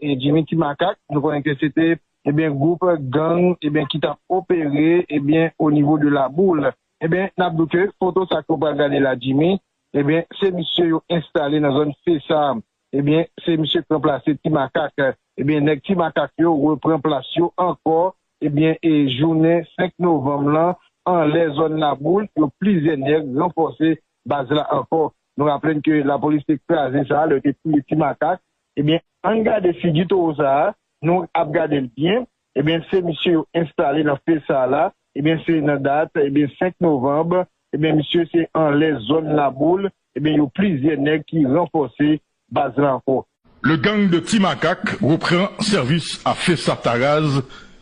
Jimmy ti makak nou konnen ke se te ebyen gwoup gang ebyen ki tap opere ebyen o nivo de la boule ebyen nap di w ke foto sa ke w pral gade la Jimmy ebyen se misye yo enstale nan zòn fesa ebyen se misye k ranplase ti makak ebyen nèg ti makak yo repran plas yo ankò ebyen e jounen 5 novanm lan anlè zòn la boule yo plizyè nèg ranfòse baz la ankò nou raple n ke lapolis te kraze sa lè yo te touye ti makak Ebyen ann gade figi toro sa a nou ap gadel byen ebyen se misye yo enstale nan fil sa a la ebyen se nan dat ebyen 5 novanb ebyen misye se anlè zòn laboul ebyen yo plizyè nèg ki ranfòse baz la ankò. Le gang de Ti Makak repran sèvis a Fessah Taraz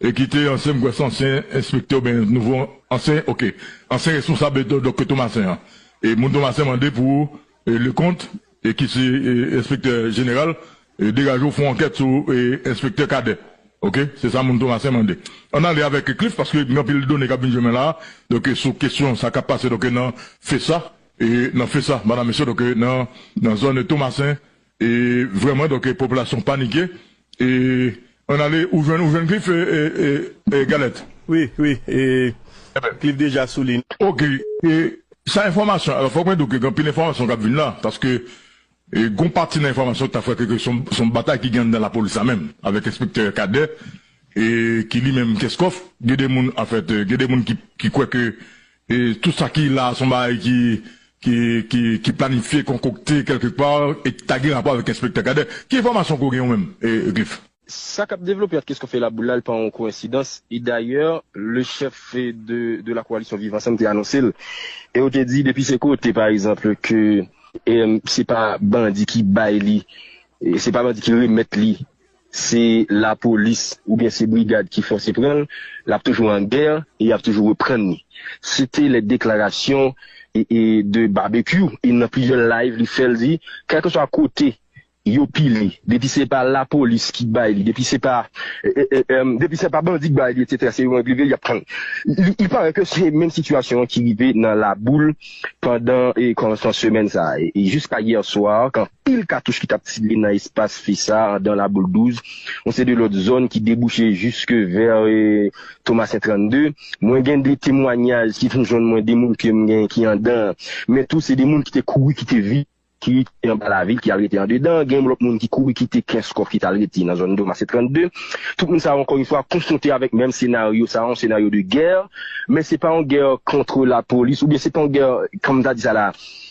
E kite ansyen m kwè se ansyen enspektè oubyen nouvo ansyen ok ansyen responsab dòk Tomasen an e moun Tomasen mande pou Lekont e ki se enspektè jeneral degaje w fon ankèt sou enspektè Kadè ok se sa moun Tomasen mande ann ale avèk Cliff paske gen anpil done k ap vin jwenn mwen la a dòk sou kesyon sa k ap pase dòk nan FESA e nan FESA madam mesye dòk nan zòn Tomasen E vreman donk popilasyon panike e an ale ou jwenn ou jwenn klif e galèt. Wi wi e klif deja sou li. Ok e sa enfòmasyon alò fòk mwen di w ke gen anpil enfòmasyon kap vin la paske gon pati nan enfòmasyon ki ta fè kwè ke son batay ki gen anndan lapolis la menm avèk enspektè Kadè e ki li menm Kenscoff gen de moun anfèt gen de moun ki kwè ke E tout sa ki la a son bagay ki ki ki planifye, konkokte kèlke pa e ki ta gen rapò avèk Enspektè Cadet. Ki enfòmasyon ke w gen ou menm, Glyph? Sa k ap devlope ant Kesco Fela Boule la, li pa yon koensidans. E dayè, le chèf de de la koalisyon Viv Ansanm te anonse l. E yo te di depi se kote pa egzanp ke se pa bandi ki bay li, se pa bandi ki remèt li Se lapolis oubyen se brigad ki fòse pran l, l ap toujou an gè e y ap toujou reprann li. Se te lè deklarasyon de Babekyou, e nan plizyè live li fè l di, kèlkeswa kote yo pile, depi se pa lapolis ki bay li, depi se pa depi se pa bandi k bay li etsetera se yo menm k rive l y ap pran l. Il parait ke se menm sitiyasyon an ki rive nan Laboul pandan kòmansman semèn sa a e jiska yè swa kan pil katouch ki t ap tire nan espas fi sa a andan Laboul 12, yon seri lòt zòn ki debouche jiske vè Tomasen 32. Mwen gen 2 temwanyaj ki vin jwenn mwen, 2 moun ke m gen ki andan an, men tou se 2 moun ki te kouri kite vil, ki rete anba lavil, ki al rete andedan an. Gen yon lòt moun ki kouri kite Kenskòf ki t al rete nan zòn Tomasen 32. Tout moun sa yo ankò yon fwa konfwonte avèk menm senaryo sa a, yon senaryo de gè, men se pa yon gè kontre lapolis oubyen se pa yon gè, kòm m ta di sa la a,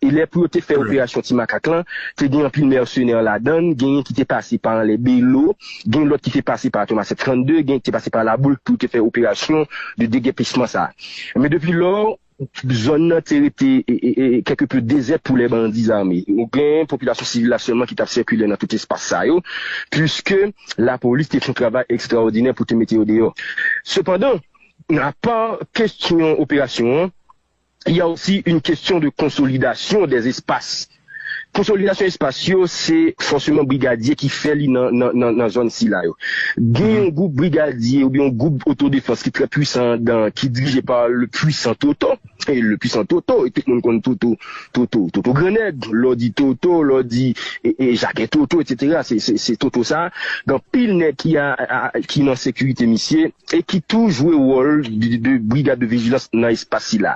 E lè pou yo te fè operasyon ti makak lan, te gen anpil mèsenè ladan l, genyen ki te pase pa anlè Belo, gen lòt ki te pase pa Thomas 732, genyen ki te pase pa Laboul pou yo te fè operasyon de degèpisman sa. Men depi lò, zòn nan te rete kèlke peu dezèt pou lè bandi zame. Ou gen popilasyon sivil la sèlman ki t ap sikile nan tout espas sa yo, puiske lapolis te fè yon travay ekstraòdinè pou te mete yo deyò. Sepandan, apa kestyon operasyon an, Il y a aussi une question de consolidation des espaces. Konsolidasyon espas yo se fòseman brigadye ki fè li nan zòn sila yo. Gen yon gwoup brigadye oubyen yon gwoup otodefans ki trè pwisan andan an, ki dirije pa le pwisan Toto, e le pwisan Toto, e tout moun konn Toto, Toto, Toto Grannèg, lè w di Toto, lè w di Jacques Toto, etc. Se Toto sa a, gen anpil nèg ki nan sekirite misye. e ki tou jwe wòl de brigad de vijilans nan espas sila.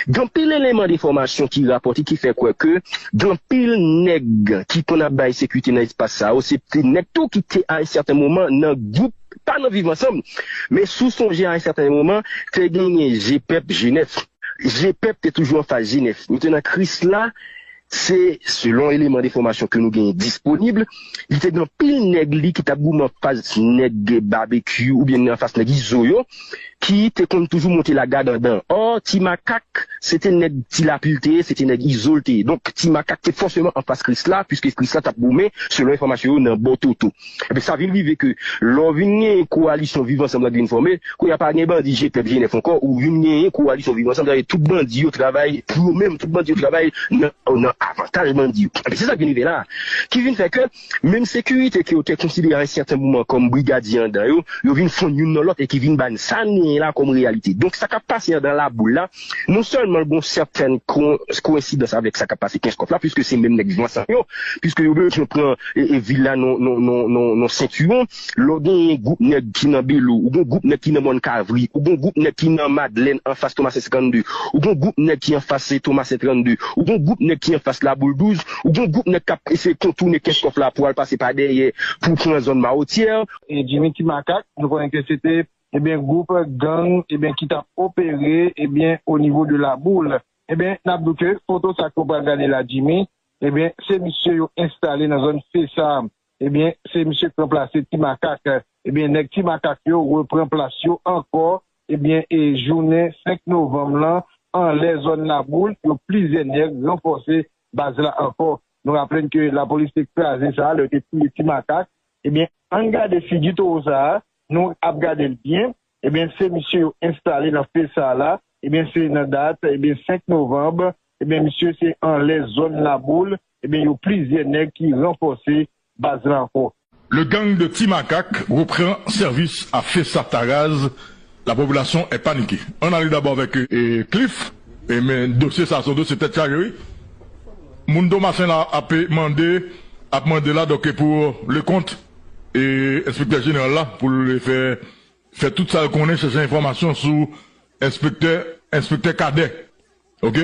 Gen anpil eleman de enfòmasyon ki rapòte ki fè kwè ke gen anpil nèg ki konn ap bay sekirite nan espas sa yo se te nèg tou ki te a en sèten moman nan gwoup, pa nan Viv Ansanm, men si w sonje a en sèten moman te genyen Jepep Jenèf. Jepep te toujou anfas Jenèf. Mete nan Krisla Se selon eleman de fòmasyon ke nou genyen disponib, li te gen yon pil nèg li ki t ap goumen anfas nèg Babekyou oubyen anfas nèg Izo yo ki te konn toujou monte lagad andan. Ò, Ti Makak se te nèg Ti Lapli l te ye, se te nèg Izo l te ye. Donk, Ti Makak te fòseman anfas Krisla, piske Krisla t ap goumen, selon enfòmasyon yo, nan bò Toto. Ebyen sa vin rive ke lè w vin genyen kowalisyon viv ansanm lan ki vin fòme, kounye a pa gen bandi Jpèp Jenèf ankò, ou vin genyen kowalisyon viv ansanm, sa vle di tout bandi yo travay pou yo menm, tout bandi yo travay nan avantaj bandi yo. Ebyen se sa k vin rive la a, ki vin fè ke menm sekirite ke yo te konsidere a en sèten moman kòm brigadye andan yo, yo vin fonn youn nan lòt e ki vin ba n sa n genyen la kòm reyalite. Donk sa k ap pase andan laboul la, Non sèlman gen yon sèten koensidans avèk sa k ap pase Kenskòf la, piske se menm nèg Vyansan yo, piske yo bezwen pran vil la nan sentiwon, lè w gen yon gwoup nèg ki nan Belo, ou gen yon gwoup nèg ki nan Mòn Kavri, ou gen yon gwoup nèg ki nan Madlèn anfas Tomasen 52, ou gen yon gwoup nèg ki anfas Tomasen 32, ou gen yon gwoup nèg ki anfas Laboul 12, ou gen yon gwoup nèg k ap eseye kontounen Kenskòf la pou al pase pa dèyè pou pran zòn Mawotyè. Jimmy Timakak, nou konnen ke se te ebyen group gang ebyen ki tap opere ebyen o nivo de la boule ebyen nap di w ke foto sa ke w pral gade la Jimmy ebyen se misye yo enstale nan zòn Fesa ebyen se misye ki ranplase ti makak ebyen nèg ti makak yo repran plas yo ankò ebyen e jounen 5 novanm lan anlè zòn la boule yo plizyè nèg ranfòse baz la ankò nou raple n ke lapolis te kraze sa lè yo te touye ti makak ebyen ann gade figi towo sa Nou ap gade l byen, ebyen se misye yo enstale nan fil sa a la, ebyen se nan dat, ebyen 5 novanb, ebyen misye se anlè zòn Laboul, ebyen yo plizyè nèg ki ranfòse baz la ankò. Le gang de Ti Makak repran sèvis a Fesa Taraz, la popilasyon è panike. Ann ale dabò avèk Cliff, men dosye sa a se yon dosye tèt chaje wi. Moun Tomasen la ape mande, ap mande la donk pou Leconte. E enspektè jeneral la pou l fè fè tout sa l konnen chèche enfòmasyon sou enspektè enspektè Kadè ok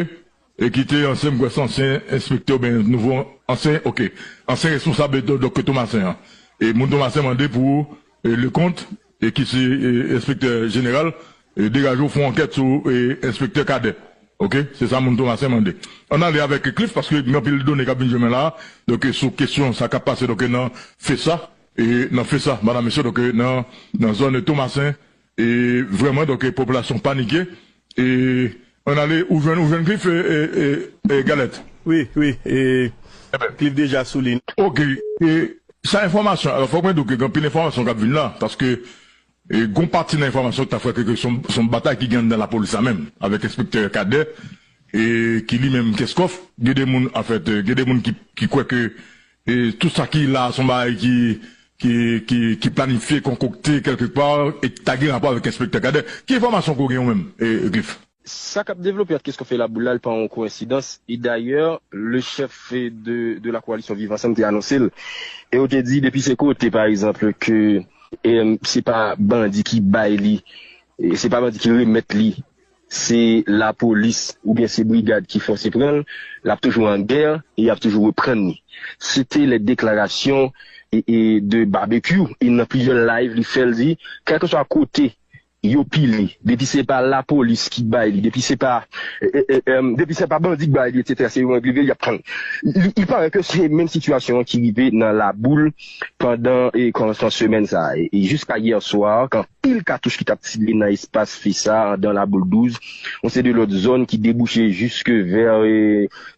e ki te ansyen m kwè se ansyen enspektè oubyen nouvo ansyen ok ansyen responsab dòk Tomasen an e moun Tomasen mande pou Leconte E ki se enspektè jeneral degaje w fon ankèt sou enspektè Cadet ok se sa moun Thomassin mande ann ale avèk Cliff paske gen anpil done kap vin jwenn mwen la donk sou kesyon sa kap pase donk nan fesa e nan fesa madam mesye donk nan zòn Thomassin e vrèman donk popilasyon panike E an ale ou jwenn ou jwenn Cliff e galèt. Wi wi e Cliff deja sou li. Ok e sa enfòmasyon alò fòk mwen di w ke gen anpil enfòmasyon kap vin la paske gon pati nan enfòmasyon ki ta fè kwè ke son batay ki gen anndan lapolis la menm avèk enspektè Cadet e ki li menm Kenscoff gen de moun anfèt gen de moun ki kwè ke E tout sa ki la a son bagay ki ki ki planifye, konkokte kèlke pa e ki ta gen rapò avèk Enspektè Cadet. Ki enfòmasyon ke w gen ou menm, Cliff? Sa k ap devlope ant Christophe e Laboul la, li pa yon koensidans. E dayè, le chèf de de la koalisyon Viv Ansanm te anonse l. E yo te di depi se kote pa egzanp ke se pa bandi ki bay li, se pa bandi ki remèt li Se lapolis oubyen se brigad ki fòse pran l, l ap toujou an gè e y ap toujou reprann li. Se te lè deklarasyon de Babekyou, e nan plizyè live li fè l di, kèlkeswa kote yo pile, depi se pa lapolis ki bay li, depi se pa depi se pa bandi k bay li etsetera se yo menm k rive l y ap pran l. Il parait ke se menm sitiyasyon an ki rive nan Laboul pandan kòmansman semèn sa a e jiska yè swa kan. pil katouch ki t ap tire nan espas fi sa a andan Laboul 12, yon seri de lòt zòn ki debouche jiske vè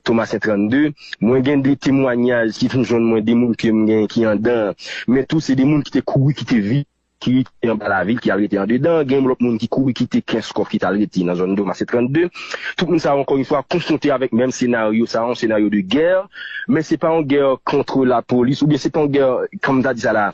Tomasen 32. Mwen gen de temwanyaj ki vin jwenn mwen de moun ke m gen ki andan an, men tou se de moun ki te kouri kite vil, ki rete anba lavil, ki al rete andedan. Gen yon lòt moun ki kouri kite Kenskòf ki t al rete nan zòn Tomasen 32. Tout moun sa yo ankò yon fwa konfwonte avèk menm senaryo sa a, yon senaryo de gè, men se pa yon gè kontre lapolis oubyen se pa yon gè, kòm m ta di sa la a,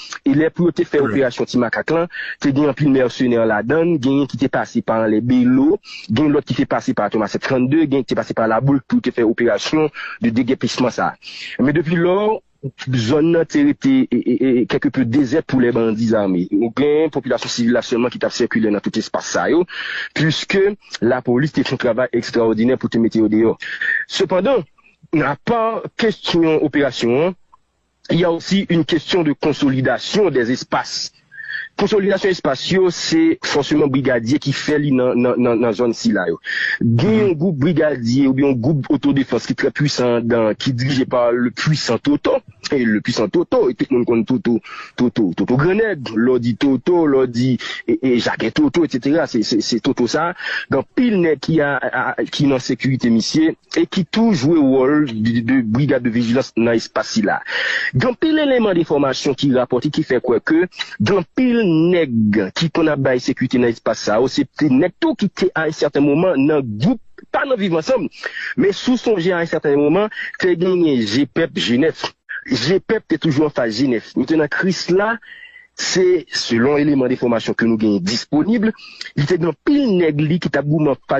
e lè pou yo te fè operasyon ti makak lan te gen anpil mèsenè ladann genyen ki te pase pa anlè belo gen lòt ki te pase pa tomas 32 genyen ki te pase pa laboul pou yo te fè operasyon de degèpisman sa men depi lò zòn nan te rete kèlke peu dezèt pou lè bandi zame ou gen popilasyon sivil la sèlman ki tap sikile nan tout espas sa yo puiske lapolis te fon travay ekstraòdinè pou te mete yo deyò sepandan apa kestyon operasyon an. Il y a aussi une question de consolidation des espaces. Konsolidasyon espas yo se fòseman brigadye ki fè li nan zòn sila yo. Gen yon gwoup brigadye oubyen yon gwoup otodefans ki trè pwisan anndan an ki dirije pa le pwisan Toto, e le pwisan Toto e tout moun konn Toto, Toto, Toto Grannèg, lè w di Toto, lè w di Jakè Toto, etc. Se Toto sa a, gen anpil nèg ki nan sekirite misye. e ki tou jwe wòl de brigad de vijilans nan espas sila. Gen anpil eleman de enfòmasyon ki rapòte ki fè kwè ke gen anpil nèg ki konn ap bay sekirite nan espas sa yo, se te nèg tou ki te a un sèten moman nan gwoup, pa nan Viv Ansanm, men si w sonje a un sèten moman te genyen Jepep Jenèf. Jepep te toujou anfas Jenèf. Li te nan Krisla, se selon eleman de enfòmasyon ke nou genyen disponib, li te gen anpil nèg li ki t ap goumen anfas.